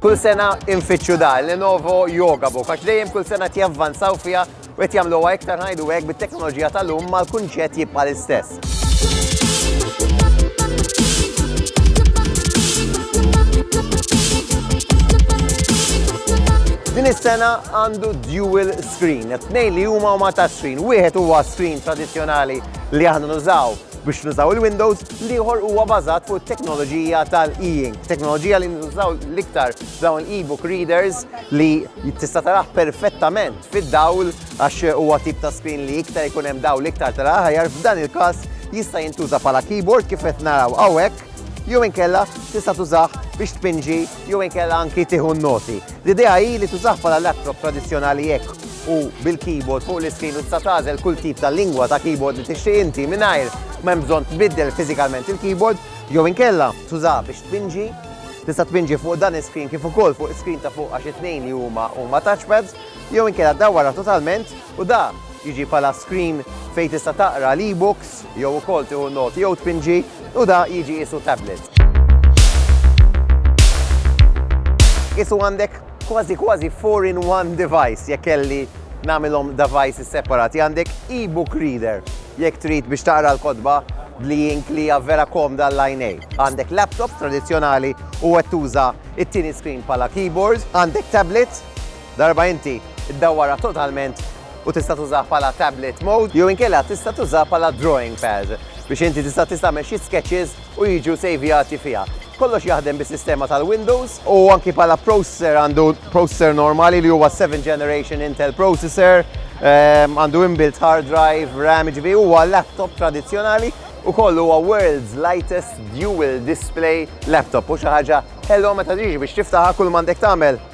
Kull sena infittxu da, Lenovo Yoga Book, għax dejjem kull sena tjavvanzaw fija u qed jagħmluha iktar ngħidu hekk bit-teknoloġija tal-lum mal-kunċett jibqa' l-istess. Din is-sena għandu dual screen, tnejn li huma huma ta' screen, wieħed huwa screen tradizzjonali li aħna nużaw biex nużaw il-Windows, liħor huwa bażat fuq teknoloġija tal-e-ink. Teknoloġija li nużaw l-iktar dawn e-book readers li tista' taraħ perfettament fid-dawl għax huwa tip ta' screen li iktar ikun hemm dawl iktar tara ħajar f'dan il-każ jista' jintuża bħala keyboard kif qed naraw hawnhekk jew inkella tista' tużah biex tpinġi jew inkella anki tieħu n-noti. L-idea hi li tużah bħala laptop tradizzjonali hekk u bil-keyboard fuq l-iskrin u tista' tagħżel kull tip ta' lingwa ta' keyboard li tixtieq inti mingħajr ma hemm bżonn tbiddel fiżikalment il-keyboard jew inkella tużah biex tpinġi Tista' tpinġi fuq dan is-screen kif ukoll fuq is-screen ta' fuq għax it-tnejn li huma huma touchpads jew inkella dawwarha totalment U dan jiġi bħala screen fejn tista' taqra l-e-books jew ukoll tieħu noti jew tpinġi u da jiġi qisu tablet. Qisu għandek kważi kważi four in one device jekk kelli nagħmilhom devices separati. Għandek e-book reader jekk trid biex taqra l-kotba bl-e-ink li hija vera komda għall-għajnejn. Għandek laptop tradizzjonali u qed tuża t-tieni screen bħala keyboard. Għandek tablet Darba inti ddawwarha totalment u tista' tużaha bħala tablet mode jew inkella tista' tużaha bħala drawing pad biex inti tista' tagħmel xi sketches u jiġu sejvjati fiha. Kollox jaħdem bis-sistema tal-Windows u anki bħala processor għandu processor normali li huwa 7 generation Intel processor, ehm, għandu inbuilt hard drive, RAM, ġifi huwa laptop tradizzjonali u kollu huwa world's lightest dual display laptop u xi ħaġa ħelwa meta tiġi biex tiftaħha kull m'għandek tagħmel